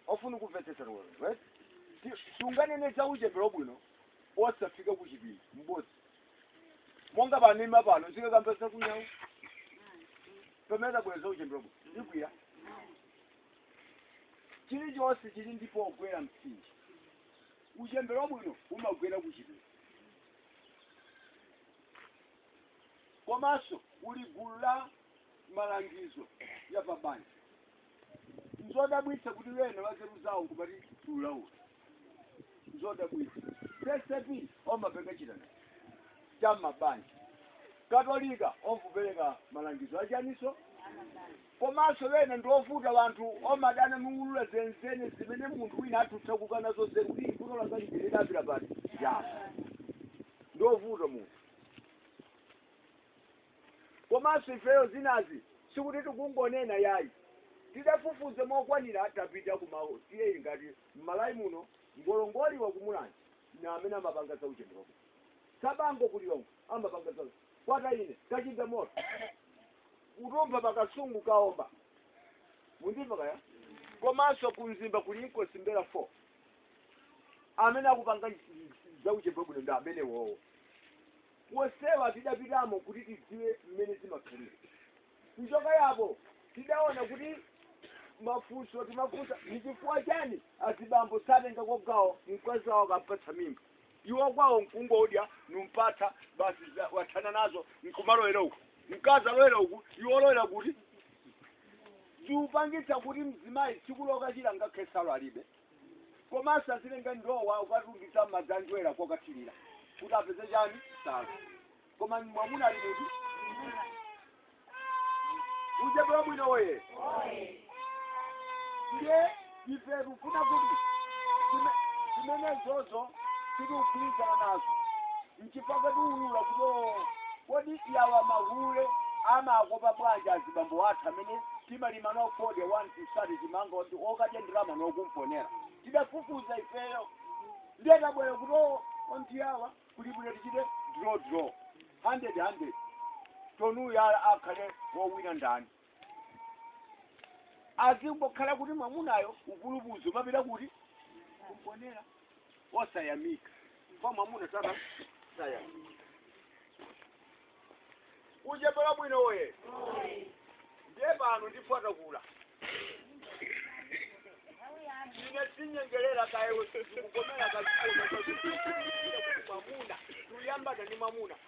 ofuna kumvetsetsa lero right sunganene za uchembere wabwino osafika ku chipinda m'bodza monga panima pano zikakambesa kunyawu pamene tabweretsa uchembere wabwino ikwiya chilichonse chili ndi pogwera mtsinje uchembere wabwino umagwera ku chipinda komanso kuli gulu la malangizo ya pabanja nzodabwitsa kuti wena wanzeru zawo nkumati tiulaula nzodabwitsa CCAP omapereka chitani cha mabanja katolika opereka malangizo achaniso komanso wena ndiovuta wanthu omadana niulula zenizeni zimene munthu wina athutsa kukana zonse kuti ifuno langalipilidapira paja ndiovuta munthu Komanso ifeyo zinazi sikuti tikungonena yayi. Tidafufuza mokwanira tapita ku ma TA ngati m'Malawi muno Ngolongoliwa ku Mulanje na amene amapanga za uchembere wabwino Tsabango ku Lilongwe amapanga za Kwataine, Kachindamoto, Kudumpha pa Kasungu, Kaomba mundimva kaya? komanso ku Mzimba kuli Inkosi M'mbelwa 4 amene akupanga za uchembere wabwino ndi amenewowo. wonsewa tidapitamo kuti tidziwe mmene zimakhalira kuchoka yapo tidaona kuti mafunso timafunsa ni chifukwa chani azibambo satengako gawo mkazi wawo akampatsa mimba iwo kwawo mkungodya numpatsa basi za- wathana nazo nkumalowera uku mkazi alowera uku iwo olowera kuti ziupangitsa kuti mzimayi tsiku lokachira ngakhale nsalu alibe komanso azitenga ndowa ukatungitsa madzi anjerwa kokathirira kuti apeze chani nsalu koma mwamuna ali kuti uchembere wabwino oye ndiye ife tikufuna kuti zime- zimenezozo tikugwirizana nazo Nchifukwa tiulula kuti o, kodi yawa mahule amakopa bwanji azibambo athu amene timalima nawo fodya 1 tisate chimanga oti okadya ndalama no kumponera. Tidafufuza ifeyo. Ndiye tabwera kuti o, onti yawa kuli bwino tichite draw draw. Hundred hundred. Tione uyu a- akhale wowina ndani. azingokhala kuti mwamunayo ukulubuzo mapita kuti kumponera osayamika kwa mwamuna sana sayamika uchembere wabwino oye ndiye pano ndifotakula ine sinyengerera kaya kukomera kazikomamuna tuyambana ni mamuna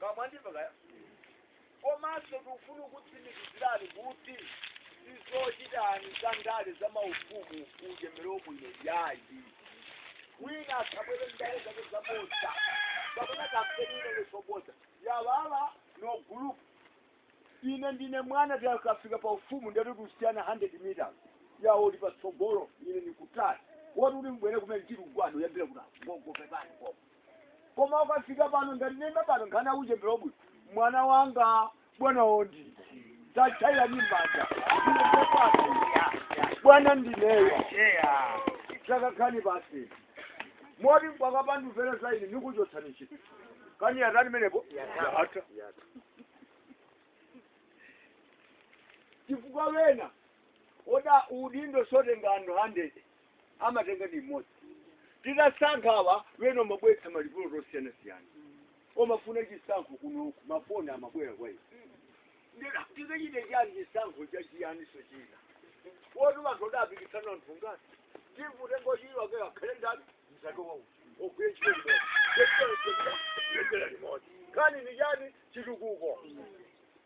Kaya mwandimva kaya? Komanso ndikufuna kukutsimikizirani kuti sizochitani za ndale za maufumu uchembere wabwino yayi. Wina asabwere ndale zake zabodza. Kapena kampeni ino ndi zobodza. Yawawa ndi a group. Ine ndine mwana tikafika pa ufumu ndati kusiyana 100 meters. Yawo ali patsogolo ine ndikutali. Woti uli mbwere kumene ndiri kugwada kuyambira kuti gogo pepani gogo. koma ukafika pano ngati nenda pano nkhani ya uchembere wabwino mwana wanga bwana wondi tachaira ni mbanja bwana ndineyo takakhalani pansi moti mukapanda kumvera za ine nikuchotsani ntchito nkhani yatani menepo yatha chifukwa wena oda udindo sotenga anthu 100 amatenga ndi mmodzi titasankha awa wena amabweretsa malipoti osiyanasiyana omafuna chisankho kunoku mafoni amabwera kwa ife tikachite chani chisankho chachiyaninso china woti wanthu adapikisana anthu ngati tivutengo chilo ke akhale ndani mzake wawo agwire ntchito limodzi nkhani ni chani chitukuko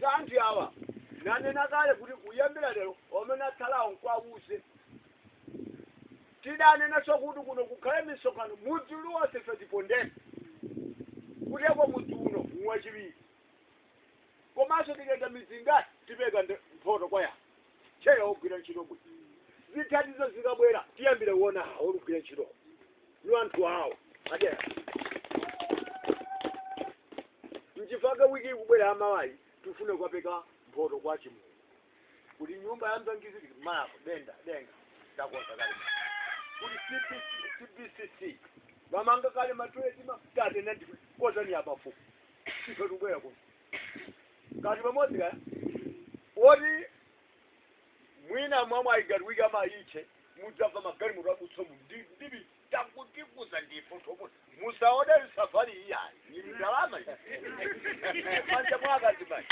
za anthu awa nanena kale kuti kuyambira lero amene atsalawo mkawauze tidanenanso kuti kuno kukhale misonkhano mudzi uliwonse ife tipondeni kuteko mudzi uno wachiwiri komanso tikayenda midzi ingati tipereka mphoto kwa yawo Cheya ogwira ntchito bwino zithandizo zikabwera tiyambire kuona awo olugwira ntchito ndi anthu awo adera nchifukwa chake wiki ikubwera ya mawayi tikufuna kukapereka mphoto kwa chimulu kuti nyumba ya mlangizi tikumalapo denda denga takonza kale kuti cbcc amanga kale matoileti mafuta atena ndikonzani apafupi ife tikubwera kuno kati pamodzi kaya woti mwina mwamwe ayigatwika mayiche mudzamva magalimoto akutsomu ndibi takutikuza ndifu topo musaode safari iyayi ili ndalama m'manja mwa akazi mai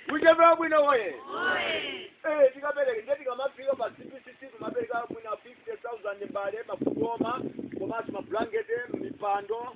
uchembere wabwino woye Eh, tikapereka ndiye tikamafika pa cbcc timapereka mwina 50000 mbale makugoma komanso mablankete mipando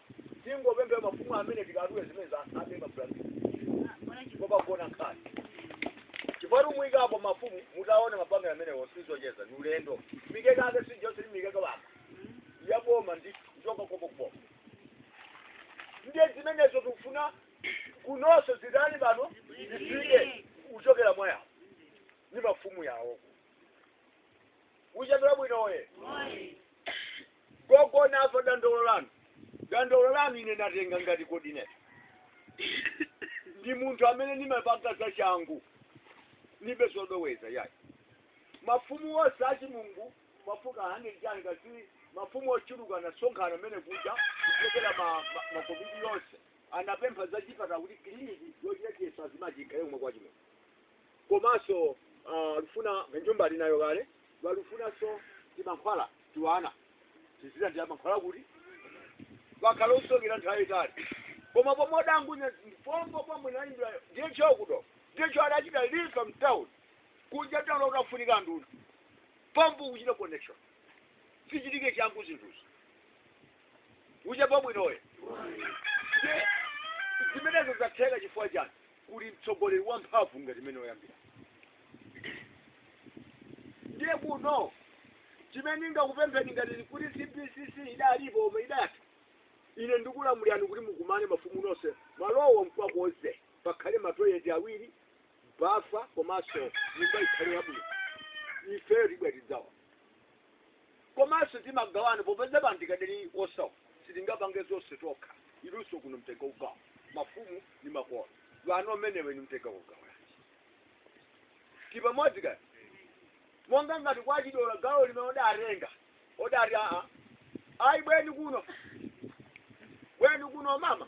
tingopempha mafumu amene tikatule zimene za abe mablanketi kopagona nkhani chifukwa timayikapo mafumu mutaona mapangano amenewo sizocheza ni ulendo mikeka ake sijose ndi mikeka waka yaboma ndi kuchoka konko kuboma ndiye zimenezo tikufuna kunonso zitani pano zifike kuchokera mwa yawo ni mafumu yawo uja ndi wabwino uye gogo namva dandaulo lanu dandaulo lanu ine natenga ngati kodi ine ndi munthu amene ndimapanga za changu ndibe zodoweza yayi mafumu onse a Chimungu amafika 100 chani kasi mafumu ochuluka anasonkhana amene kuja kuchokera ma- ma- makomiti yonse anapempha za chipatala kuti kiliniki yochekesa azimayi chikhale kumwe kwa Chimungu komanso uh, lufuna nyumba ali nayo kale walufunanso timankhwala tiwana tizilandira mankhwala kuti wakhala osokera nthawi yaitali koma pomwe odangomva pompo pomwe anaimbira DHO kuti DHO adachita refer mtown kunja town ukafunika nduna pompo kuchita connection zichitike changu zinthuzi uche pabwinoyo zimenezo zatheka chifukwa chani kuli mtsogoleri wamphamvu ngati mmene oyambira ndiye kuno chimene ndingakupempheni ngati kuti CBCC idalipo omwe idati ine ndikulamulirani kuti mukumane mafumu nonse malowo mukawakonze pakhale matoileti awiri bafa komanso nyumba ikhale yabwino ifeyo tibwera tidzawa komanso timagawana popeza pano tikadali osauka sitingapange zonse tokha inunso kuno mutengeko gawo mafumu ni makolo a wana amenewa nimutengeko gawo tipamodzi kani monga ngati kwa Chidola gawo limene odatenga odati aa ayi bweni kuno bweni kuno mama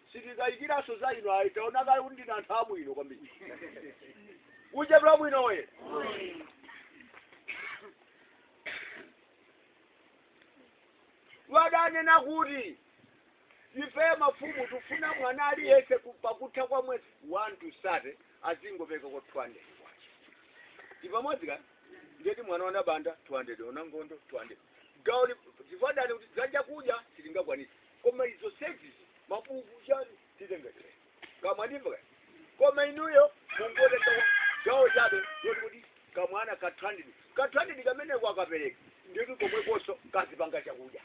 sitikayikiranso za inu ayi taona kale kuti ndinu anthu abwino kwambiri kuchepera bwino we wadanena kuti ife mafumu tufuna mwana aliyense ku- pakutha kwa mwezi 1 to 30 azingopereka ka 200 kwacha tipamodzi ka ndiyeti mwana wa Nabanda 200 o Nangondo 200 gawo li- chifukwa chani kuti za chakudya sitingakwanisa koma zoseweretsa mabuku chani titenga chile kamwa ndimva kaya koma inuyo mungotenga gawo chabe loti kuti kamwana ka 200 ka 200 kamene akapereka ndiyeti komwekonso kazipanga chakudya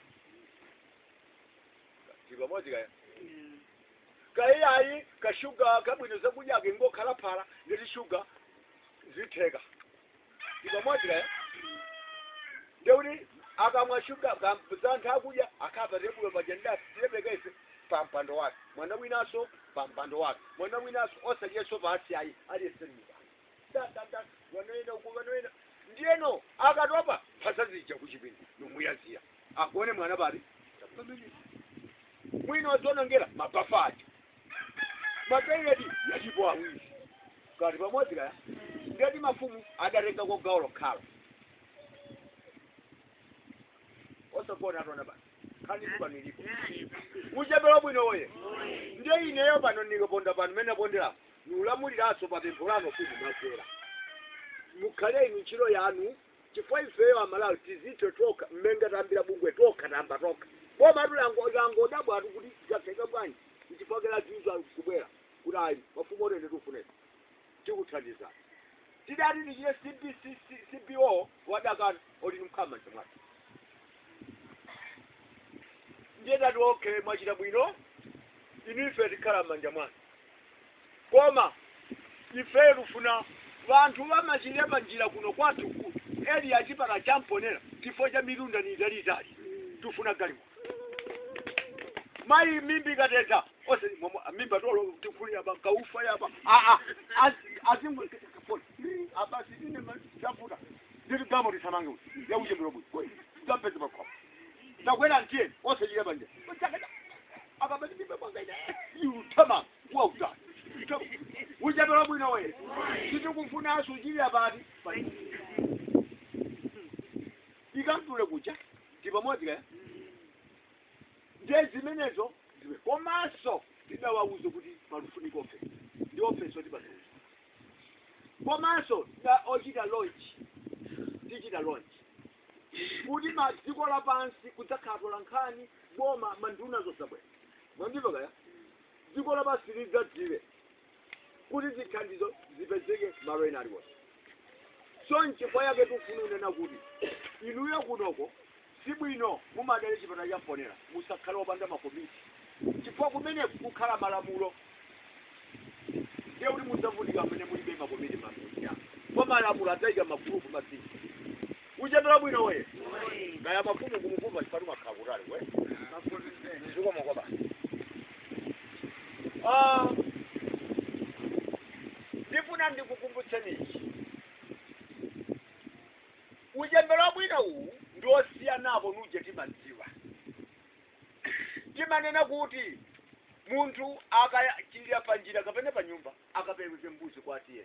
tili pamodzi kaya kaye ayi kashuga kabwino zakudya ake ngokhala phala ndi tishuga zitheka tipamodzi ka ndekuti akamwa shuga zatha kudya akhala pa tebulo paja ndati tilepekeze pa mpando wake mwana winanso pa mpando wake mwana winanso osadyeranso pansi ayi aliyesemika dandanda wanoyenda uko wanoyenda ndiyeno akatopa mphasa zija kuchipinda nomuyanzira agone mwana pati pamene mwina wadzionongera mabafa aja matoileti yalipo awiri kati pamodzi kaya ndeti mafumu adatenga kwa gawo lokhala osagona atona basi khanditu pano ilipo uchembere wabwino oye ndiye ineyo pano ndikaponda pano mene ponderapo niulamuliranso pa pempho lano kuti mwagwera mukhale inu ntchito yanu chifukwa ifeyo amalawi tizithe tokha mmene tayambira bungwe tokha tayamba tokha bomatu lango- langodabwatu kuti zatheka bwanji nchifukwa chake lazizwa kubwera kuti ayi mafumu otende tiufuneni tikuthandizeni tidati tichite CB- CBO wadakana oti nimkhama mchimwake ndiye tati okay mwachita bwino inu ife tikhala m'manja mwanu koma ifeyo tufuna wanthu wamachilira pa njira kuno kwathu ku area ya chipatala cha Mponela chifukwa cha mitunda ni italiitali tufuna galimoto mayi mimba ikateta ose mwamwa- mimba tolo tikuli yapa kaufa yapa aa azimwe abasi ine machafuta ndiri gamo tisamange uti ya uchembere wabwino tapeze pakhomo takwera tiyeni ose chiyapa nje akabati mimba kwanga ine yutama kuwa kutali Ita- uchembere wabwino we sitikufunanso kuchilira pati pati ikamtule kucha ti pamodzi kaya ndiye zimenezo ziwe komanso tidawauze kuti palufunika ofesi ndi ofesi yoti patauza komanso da ochita launch tichita launch kuti madziko lapansi kudzakhala atolankhani boma manduna adzabwera mwandimva kaya dziko lapansi lidzadziwe kuti zithandizo zipezeke malo ena aliwonse so nchifukwa yake tikufuna kunena kuti inuyo kunoko sibwino mumadera a chipatala cha Mponela musakhale opanda makomiti chifukwa kumene kukhala malamulo ndiye kuti mudzavutika amene mulibe makomiti makomiti ako kwa malamulo adzayika magulupu mazina uchembere wabwino we kaya mafumu kumukumva chipatu makhala kutali we zikomo kwabasi Ah, ndifuna ndikukumbutseni ichi uchembere wabwino uwu ndi osiyanapo nuje timadziwa timanena kuti munthu akachilira pa njira kapena pa nyumba akapereke mbuzi kwa a TA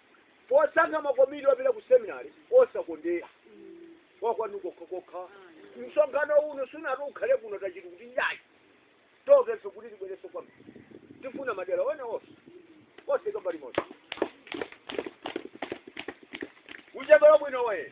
posankha makomiti opita ku seminar osakondera wakwanu kokha kokha msonkhano uno sunati ukhale kuno tachiti kuti yayi tokenso kuti tibwerenso kwanu tifuna madera ena onse osaika mbali imodzi uchembere wabwino we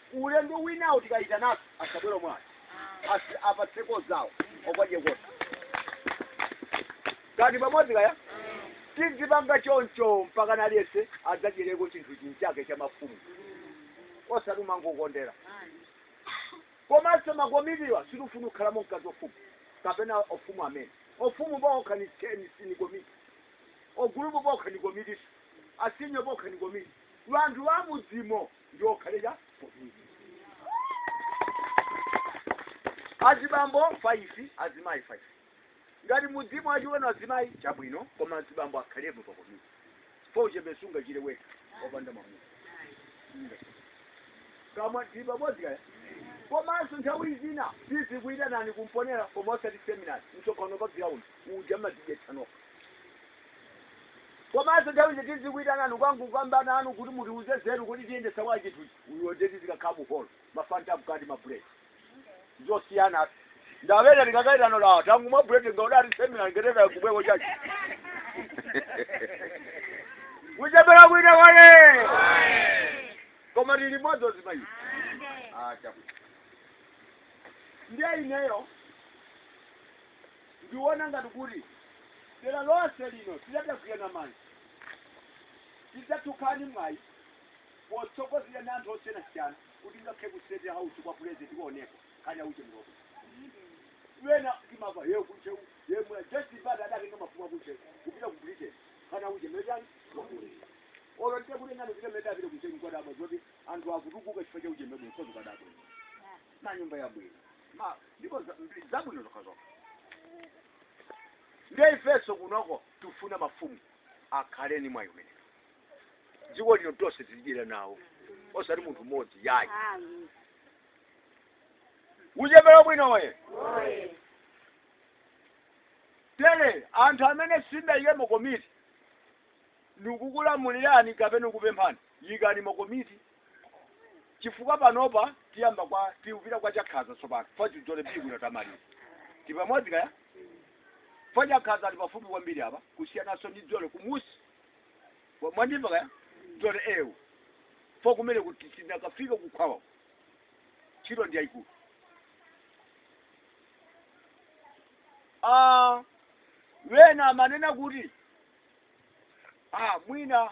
Ulendo winawo tikayitananso asabwere omwe aja basi apatseko zawo okadyekotu kani pamodzi kaya tidzipanga choncho mpakana aliyense adzadyereko chinthu chinchake cha mafumu osati kumangokondera komanso makomitiwa sitifuna kukhalamo mkazi ofumu kapena ofumu amene ofumu pokha ni cheni sini komiti ogulupu pokha ni komitinso asinyo pokha ni komiti wanthu wamudzimo ndiwo akhale pa komiti azibambo 5 azimayi 5 ngati mudzimo achiwona azimayi chabwino koma azibambo akhalepo pa komiti fo uchembere sungachire wekha wopanda mwamuna kama tipamodzi kaya komanso nthawi zina tizikuitanani ku Mponela koma osati seminari msonkhano pa ground uja madzidetsanoka komanso nthawi zina tizikuitanani kungokamba nanu kuti mutiuze nzeru kuti tiyendetsa bwa chinthuchi uyo nde tizikakhala mu hall mafanta mkati ma bread zosiyana ndawena ndikakaitano la tangu mwa bread ngaudati seminar ngeteka kubweko chachi kuchepera kuita kwake koma tili limodzi azimayi acha ndiye ineyo Ndiona ngati kuti dera lonse lino titagwirana manja tidzatukuka ni mwayi potsogozedwa ndi anthu osiyanasiyana kuti ngakhale ku state house kwa president tioneko nkhani ya uchembere wena timamva ya ku Ntcheu yemwe Joyce Banda adatenga mafumu aku Ntcheu kupita ku britain nkhani ya uchembere chani olo ndikakutengani kupita mmene ndapita ku Ntcheu kwadabwa zoti anthu akutukuka chifukwa cha uchembere mkozi kwadabwa manyumba yabwino ma ndipo za- ndi- zabwino zokhazokha ndiye ifenso kunoko tifuna mafumu akhale ni mwayi umenewo dziko lino tonse tilidyera nawo osati munthu mmodzi yayi Amen. uchembere wabwino oye Oye. tere anthu amene simudayike makomiti ndikukulamulirani kapena kupemphani yikani makomiti chifukwa panopa tiyamba kwa tikupita kwa Chakhaza tsopano fa cha Dzoole bibwino tamaliza tipamodzi kaya fa Chakhaza ali pafupi kwambiri apa kusiyananso ndi Dzoole kumunsi Wa- mwandimva kaya Dzoole ewu fa kumene kuti tinakafika kukhwawa ntchito ndi yayikulu ah wena amanena kuti ah mwina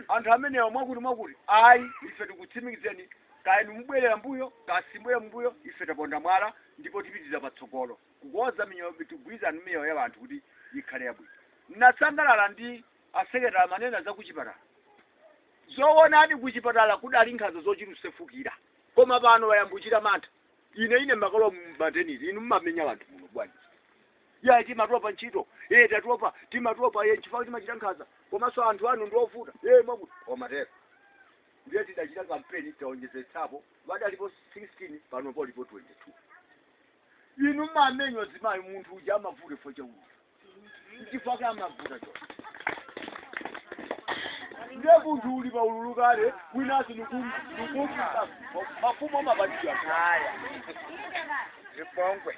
anthu amenewa mwakuti mwakuti ayi ife tikutsimikizeni kaya inu mubwerera mbuyo kaya simubwerera mbuyo ife taponda mwala ndipo tipitiriza patsogolo kukonza miyoyo tigwirizana ndi miyoyo ya anthu kuti ikhale yabwino ndinasangalala ndi asekretari amanena za kuchipatala zoonadi kuchipatala kudali nkhanza zochita kusefukira koma pano wayamba kuchita mantha ine ine mukalowa mu maternity inu mmamenya wanthu muno bwanji yayi timatopa ntchito e tatopa timatopa e chifukwa timachita nkhanza komanso anthu anu ndiovuta e mwakuti amatero ndiye tidachita kampeni taonjezetsapo wadalipo 16 pano polipo 22 inu mmamenya azimayi munthu uja amavuta chifukwa cha ululu nchifukwa chake amavuta cho ndiye munthu uli pa ululu kale winasi nukumbuka mafumu amapatira Haya. Zipongwe.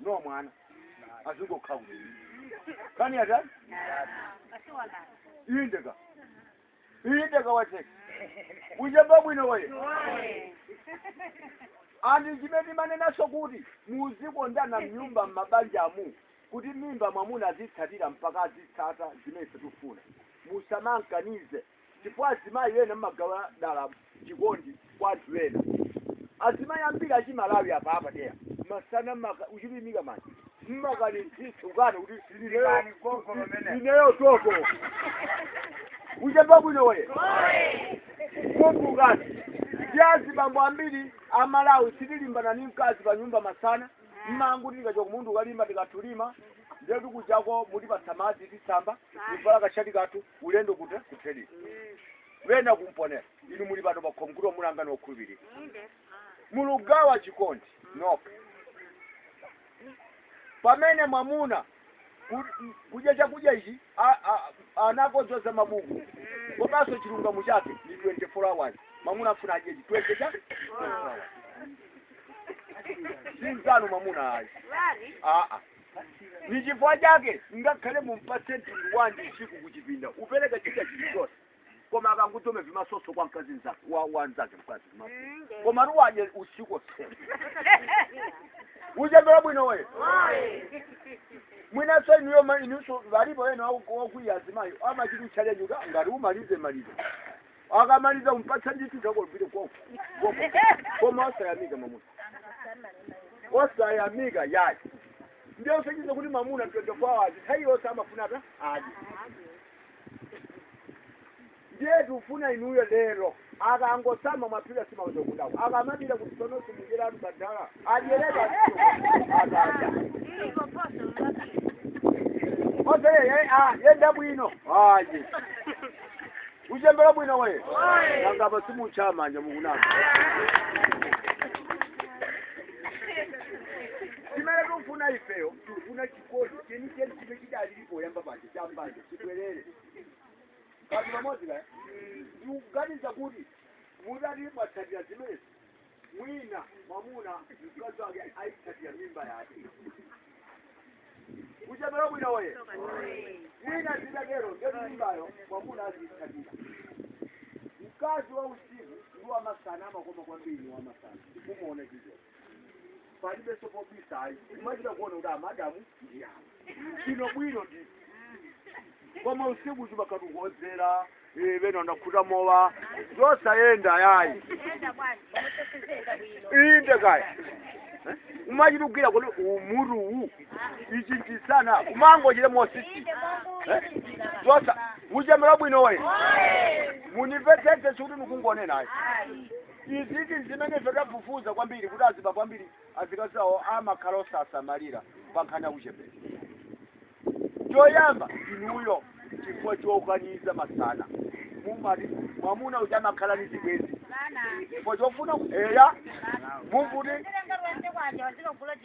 no mwana azingokhala kuti kani atani indeka indeka wateka uchembere wabwino woye and zimene timanenanso kuti muzikondana mnyumba m'mabanjamu kuti mimba mwamuna azitsatira mpaka azitsata zimene sitifuna musamamkanize chifukwa azimayi ena mmagawa dala chikondi kwa anthu ena azimayi ambiri achimalawi apa apadera masana maka- uchilimika mayi mmakanitsitsa ukana kuti Silikani gogo lomene. ineyo toto uchembere wabwino woye kumbukani ndi azibambo ambiri amalawi sitilimbana ni mkazi pa nyumba masana mmangoti tikachoka kumunda ukalima tikatha ulima ndetu kuchako mutipatsa madzi tisamba tivala kashati kathu ulendo kuti kuthelini wena ku Mponela inu muli pano pakhomo kuti amunanga ni okhulupirika mulugawa chikondi nokha pamene mwamuna ku- kudya chakudya ichi a- a- anakodzoza mabuku komanso chilungamo chake ni 24 hours mwamuna afuna adye chi 20 cha 24 hours. zinzano mwamuna ayi aa ndi chifukwa chake ngakhale mumpatse mtundu wanji usiku kuchipinda upereka chakudya chilichonse koma akangutome vimasoso kwa mkazi mzake wa, wa mzake mkazi vimasoso komatu adye usiku osera uchembere wabwino woye mwinanso inuyo ma- inunso walipo ena wakwiya azimayi amachita kuchalenja ngati umalize malize akamaliza kumpatsa ndithu takolupire koko koko koma osayamika mamuna osayamika yayi ndiye usaganize kuti mamuna 24 hours nthawi yonse amafuna atadya ndiye tikufuna inuyo lero akangosama mwaphika nsima muza kudako akamalira kuti sono simujera atu badala mdyerekezi akadya oze yenda bwino ayi uchembera bwino we ngapa simukuchaya manja mukunama chimene tikufuna ifeyo tikufuna chikondi chenicheni chimene chidalipo poyamba paja cham'banja chibwerere mkati pamodzi kaya ndikuganiza kuti mutati mwatsatira zimenezi mwina mwamuna mkazi wake akuitsatira mimba yake uchembere wabwino woye mwina zikatero ndi mimbayo mwamuna aziitsatira mkazi wa usiku ndi wamasana amakoma kwambiri ndi wamasana umuona chizo palibenso pobisa ayi kumachita kuona kuti amadamu ndi awo bwino bwino koma usiku zimakhala zongowodzera pena wakhuta mowa zosayenda yayi inde kaya umachita kugwira kuti mutu uwu ichi nchimsana umangochita mosisita uchembere wabwino we mundipepese sikuti nikungonenayo izizi zimene tidafufuza kwambiri kuti azibambo ambiri azikazi awo amakhala osasamalira pankhani ya uchembere choyamba inuyo chifukwa chokaniza masana mumaona mwamuna uja amakhala ni zibwenzi chifukwa chofuna eya mumvuti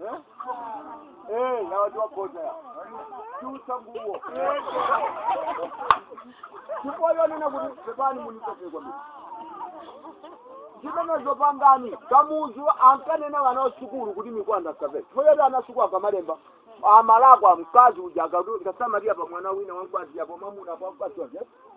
Eh? Eh, ya watu wa kota ya. Chuta nguo. Ndipo yonena kuti pepani munitoke kwa mimi. Zimene zopangani Kamuzu ankanena wana wasukulu kuti mikanda asavale. Poti ana asukulu akamalemba amalakwa mkazi uja akamasamalira pa mwana wina wamkazi yapo mamuna pa mkazi wake.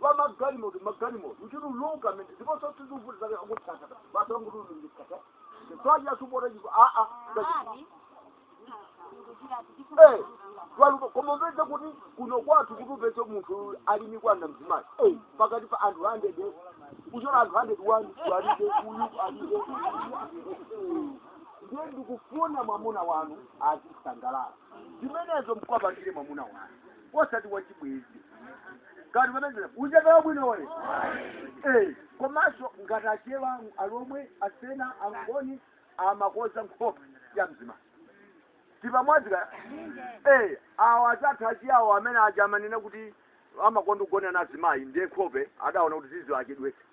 kwa magalimoto magalimoto akuchuluka mene ndiponso tizivuti zake akutsata basi wangutululungikata twaja supota chipo aa Eh, walupo koma upeze kuti kuno kwathu kuti upeze munthu ali ndi mikanda mzimayi Eh, pakati pa anthu 100 kuchotsa anthu 101 alibe uyu alibe ndiye ndikufuna mwamuna wanu azisangalala zimenezo mkapatire mwamuna wanu osati wachibwezi koma pamene uchembere wabwinowu Eh, komanso ngati achewa alomwe asena angoni amakoza nkhope ya mzimayi tili pamodzi ka Eh, awa anzathu achiyawo amene aja amanena kuti amakonda kugona na azimayi ndiye nkhope adaona kuti ziziwachedwetsa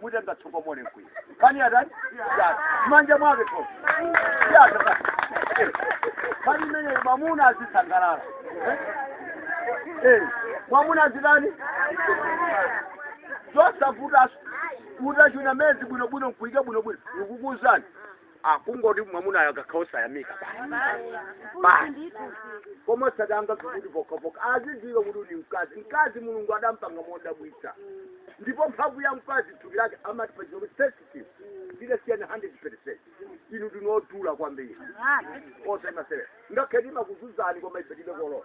mutenge tsokomole nkuika pani atani yata manja mwake to yata basi. Eh, pamene mwamuna azisangalala Eh? Eh, mwamuna azitani zosavuta utachuna mezi bwinobwino nkuika bwinobwino ndikukuuzani Ah, kungoti mwamunayo akakhala osayamika basi koma osatenga kuti pokapoka azidziwa kuti ndi mkazi mkazi mulungu adampanga modabwitsa ndipo mphamvu ya mkazi thupi lake amati pachingerezi kuti sensitive tidasiyana 100 percent ife ndi odula kwambiri osamasewera ngakhale timakuzunzani koma ife tibe kolola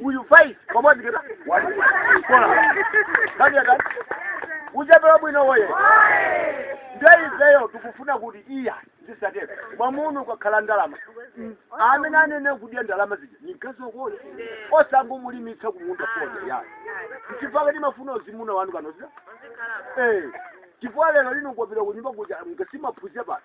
uyu tili pamodzi kena kaniyakani uchembere wabwino woye nde ifeyo tikufuna kuti iya zisatero mwamuna akakhala ndalama mm, amene ayenera kudya ndalama zija ni mkazi wakeyo osangomulimitsa kumunda fodya ayi chifukwa timafuna azimuna wanu kanozira eh chifukwa lero lino kwapitira kunyumba kuja mkasimaphuzira basi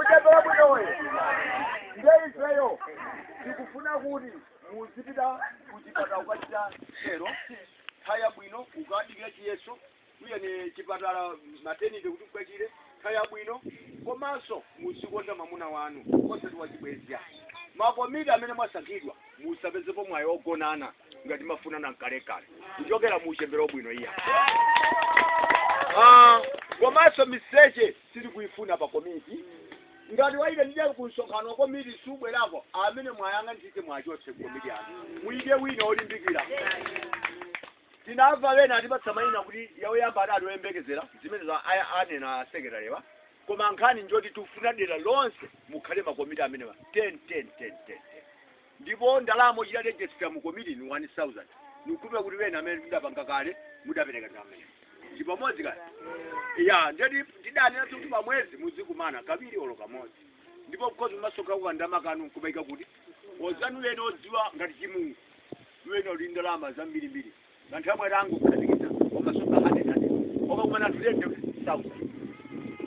uchembere wabwinowu nde ifeyo tikufuna kuti muzipita kuchipatala ukachire nthawi yabwino ukadikira chiyeso uyenera chipatala matenite kuti ukachire nthawi yabwino komanso muzikonda mwamuna wanu osati wachibwenzi makomiti amene mwasankhidwa musapezepo mwayi ogonana ngati munkafunana kalekale kuchokera mu uchembere wabwino iya Ah, komanso miseche sitili kuifuna pa komiti ngati waitanidwa kumsonkhano wa komiti sabwerako amene mwayang'ana ntchito muwachotse komiti yanu muike wina olimbikira tinamva wena atipatsa mayina kuti awo yamba adali oyembekezera zimene zija anena asekretariwa koma nkhani njoti tifuna dera lonse mukhale makomiti amenewa 10 10 10 10 Ndipo ndalama ochita register mu komiti ni 1000. Nikukhulupira kuti wena amene tidapanga kale mudapereka ndalama iyo. Tili pamodzi kani. Ya, ndiye tidanena kuti pa mwezi muzikumana kawiri olo kamodzi. Ndipo muzimasonkha ndalama kanu nkumaika kuti anzanu wena osadziwa ngati chimungu. Wena ali ndalama zambiri mbiri. anthu yamwe rangokhazikitsa omasonkha hundred hundred omakumana anthu ten thousand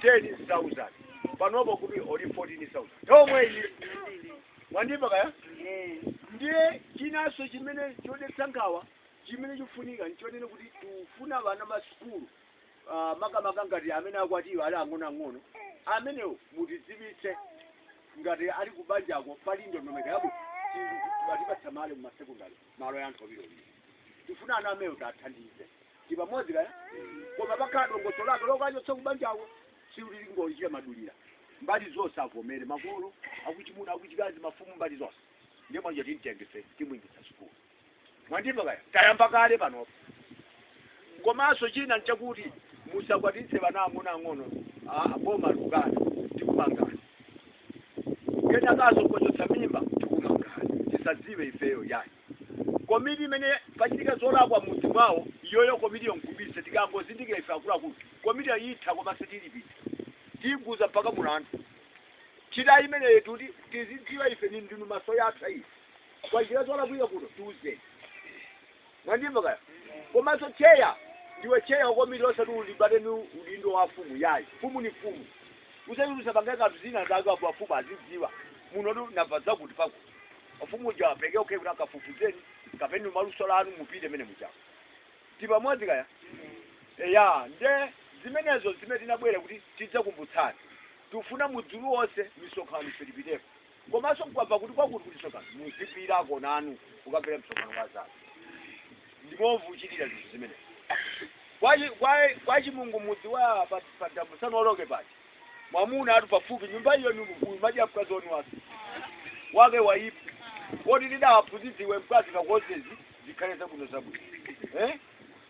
ten thousand panopo kuti oli fourteen thousand tomwe iyi mwandimva kaya ndiye chinanso chimene chodetsa nkhawa chimene chifunika nchonene kuti tufuna vana masukulu ah, makamaka ngati amene akwatiwa ali ang'onoang'ono amenewo mutidziwitse ngati ali kubanjako pali ndondomeko yabwino atipatsa malo mumasekondari malo ya anthu awiri awiri tifuna ana amewo tathandize tipamodzi kaya koma pakhala dongosolo lake lokachotsa kubanjako sitilingochita madulira mbali zonse avomere makolo akuchimuna akuchikazi mafumu mbali zonse ndiye mwana uja timtenge timwingisa sukulu mwandimva kaya tayamba kale panopo komanso china nchakuti musakwatitse vana ang'ono ang'ono ah, boma lukana tikumangani kenakaso kochotsa mimba tikumangani tisadziwe ifeyo yayi komiti imene pachitika zolakwa m'mudzi mwawo iyoyo komitiyo nkubisa tikangozindikira ife akuluakulu komitiyo itha koma sitilipita tiguza mpaka mulandu chita imeneyo kuti tizidziwa ife ni ndinu maso yathu ayi kwachita zolakwika kuno tiuzeni Mwandimva kaya? Komaso tcheya ndiwe tcheya wakomiti osati ulimbane ni udindo wa mfumu yayi. Mfumu ni mfumu. Usati usapange kanthu zina zake apo afumu azidziwa. Munotu ndamva zakuti pakuti. Mfumu uja apeleke okay kuti akafufuzeni kapena ni maluso lanu mupite mene mujamo. Tipamodzi kaya? Eya nde zimenezo zimene tinabwera kuti tidzakumbutsane. Tifuna mudzi uliwonse misonkhano ife tipiteko. komanso mukamva kuti kwakuti kuti msonkhano muzipitako nanu kukamvera msonkhano kwa anzanu ndimovuchitira zinthu zimenezi Kwachi- kwa- kwachimungu mudzi wa pa damu musanaoloke pachi mwamuna atu pafupi nyumba iyo nyumbukuyu madya mkazi wanu wake wake waipa kodi ndidawaphunzidziwe mkazi kakozezi zikhale zabwino zabwino eh?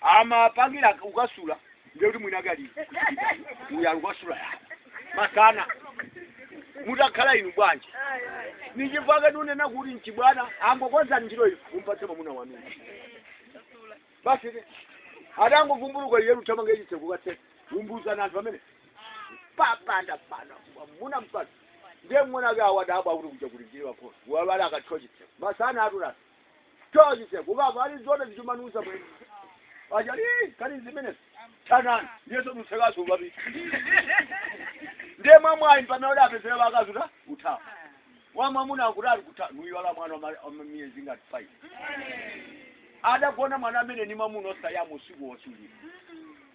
amapangira ukasula ndiye kuti mwina kali uya ukasula ya masana mutakhala inu bwanji ni chifukwa chake ndinena kuti mchibwana angokonzani njira iyi umpatse mwamuna wanu basi ti adangovumbuluka iye kuthamanga ichitse kukatse umbuzana anthu amene papanda pana mwamuna mpata ndiye mng'ona ake adadabwa kuti kuja kulinjiriwa kona wawala akathiwa chitseko masana atulasa Toa chitseko ukava ali zona zichumanusa bwene. Aja ii kali zimene tanani ndiyeso dutsekaso babi. Ndiye mwamwayi mpamene kuti apezere vakazi kuti uthawa. Wamwamuna akuti ali kutha nuyiwala mwana wa ma- wa miyezi ngati five. Adagona mwana amene ni mwamuna osayamu usiku wosulira.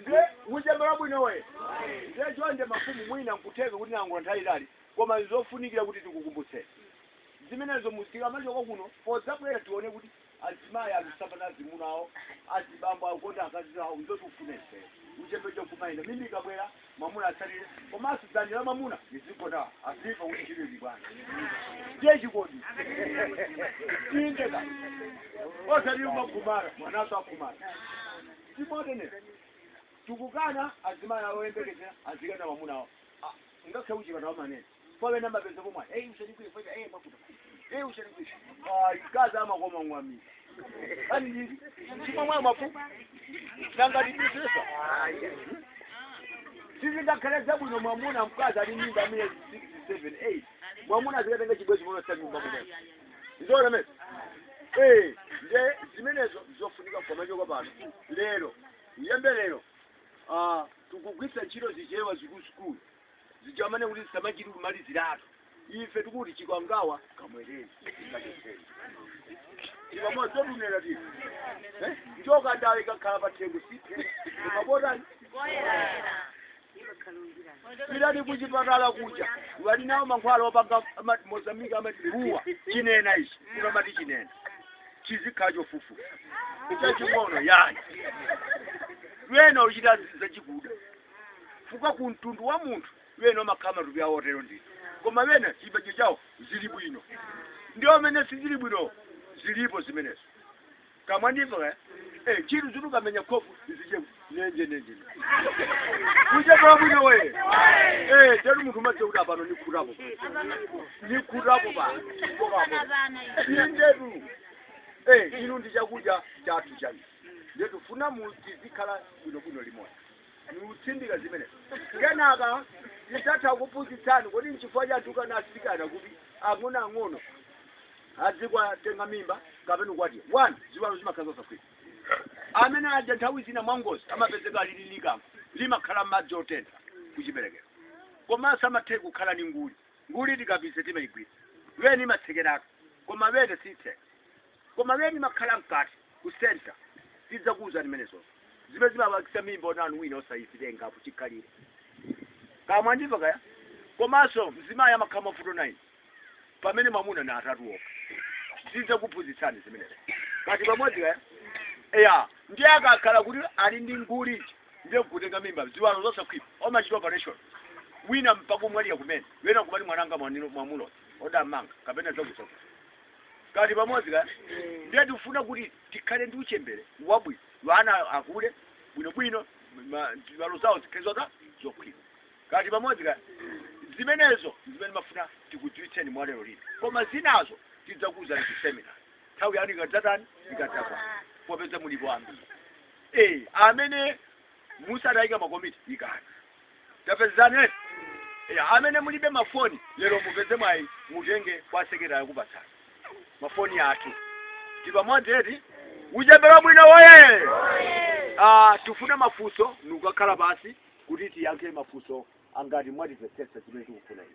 ndiye uchembere wabwinowe ndiye chonde mafumu mwina nkutheka kuti ndatenga nthawi yaitali koma nzofunikira kuti tikukumbutseni zimenezo mu- tikamachoka kuno for example tione kuti azimayi akusiyana na azimuna awo azibambo akukonda akazi awo nzoti ufunese uchembere kumayenda mimba ikabwera mwamuna atsatire komanso dzanja la mwamuna lizigona aziva kuti ntchito ili bwana ndiye chikondi tindeka osati umakhumara mwananso akhumara timotene tikukana azimayi awo oyembekezera azikana mwamuna awo ngakhale kuchipatala manene kwa wena mapeza pomwe hey usanikwe fweka hey makuta hey usanikwe ai kaza ama kwa mwami ani nini chimwa mwa mapu nanga dipesesa sisi ndakhala zabwino mwamuna mkazi ali ni mimba miyezi 6 7 8 mwamuna azikatenga chibwezi mwana cha nyumba mwana ndizona mesa eh nje zimenezo zofunika kwa majoka pano lero uchembere ah tukugwiritsa ntchito zichewa zikulu zikulu zija amanena kuti samachita kumaliziratu ife tikuti chikomekome cha mkuyu kacheseni chipamodzi totumira tino Eh? njoka ndawe ikakhala pa tchire siphe ikabotani pitani kuchipatala kuja wali nawo mankhwala opanga ama- mozambique amatiruwa chinena ichi kuno amati chinena chizikhala chofufu chaching'ono yani lwena uchita zachikuda chifukwa ku mtundu wa munthu wena umakhala matupi awo otero ndithu koma wena chipembedzo chawo zili bwino ndi amene sizili bwino zilipo zimenezo kama ndivyo eh eh chitu chitu kamenya kofu zije nenje nenje kuje kwa bwino we eh jeru mtu mache uda pano ni kurapo ni kurapo ba nderu eh inu ndi chakuja chatu chani ndetu funa muzikhala bwino bwino limodzi ndikutsindika zimenezo kenaka ndidzatha kuphunzitsana kodi nchifukwa chani tukana asikana kuti ang'onoang'ono adzikwatenga mimba kapena kukwatiwa one ziwalo zimakhala zosakhwima amene aja nthawi zina mwangozi amapezeka lili likango limakhala madzi otentha kuchiberekero komanso amatha kukhala ni nguli nguli tikapise timayigwira wene imatsekeraka koma wene sitheka koma wene imakhala mkati ku centre tidzakuuzani mmene zonse zimene zimapangitsa mimba onanu wina osayitengapo chikhalire kaya mwandimva kaya komanso mzimayi amakhala na mavuto 9 pamene mwamuna na atatu okha tidzakuphunzitsani zimenezo kaya tili pamodzi kaya eya ndiye akakhala kuti ali ndi nguli ndiye kutenga mimba ziwalo zosakhwima omachita operation wina mpaka kumwalira kumene wena kumati mwananga mwanino mwamulo odammanga kapena zakuzaku tili pamodzi eti ndiye tikufuna kuti tikhale ndi uchembere wabwino ana akule bwinobwino ma- ziwalo zawo zikhale zotani zokhwima tili pamodzi eti zimenezo zimene timafuna tikudziwitseni mwa lero lino koma zinazo tidzakuuzani ndi semina nthawi yanu ikadzatani ikadzakwana popeza mulipo ambiri eh amene musadayike makomiti ikani tapezani eti eya amene mulibe mafoni lero mupeze mwayi mutenge kwa sekretary akupatsani mafoni athu tili pamodzi eti uchembere wabwino woye Ah, tifune mafunso ndikukakhala pansi kuti tiyankhe mafunso angati mwatimvetsetsa zimene tikufuna inu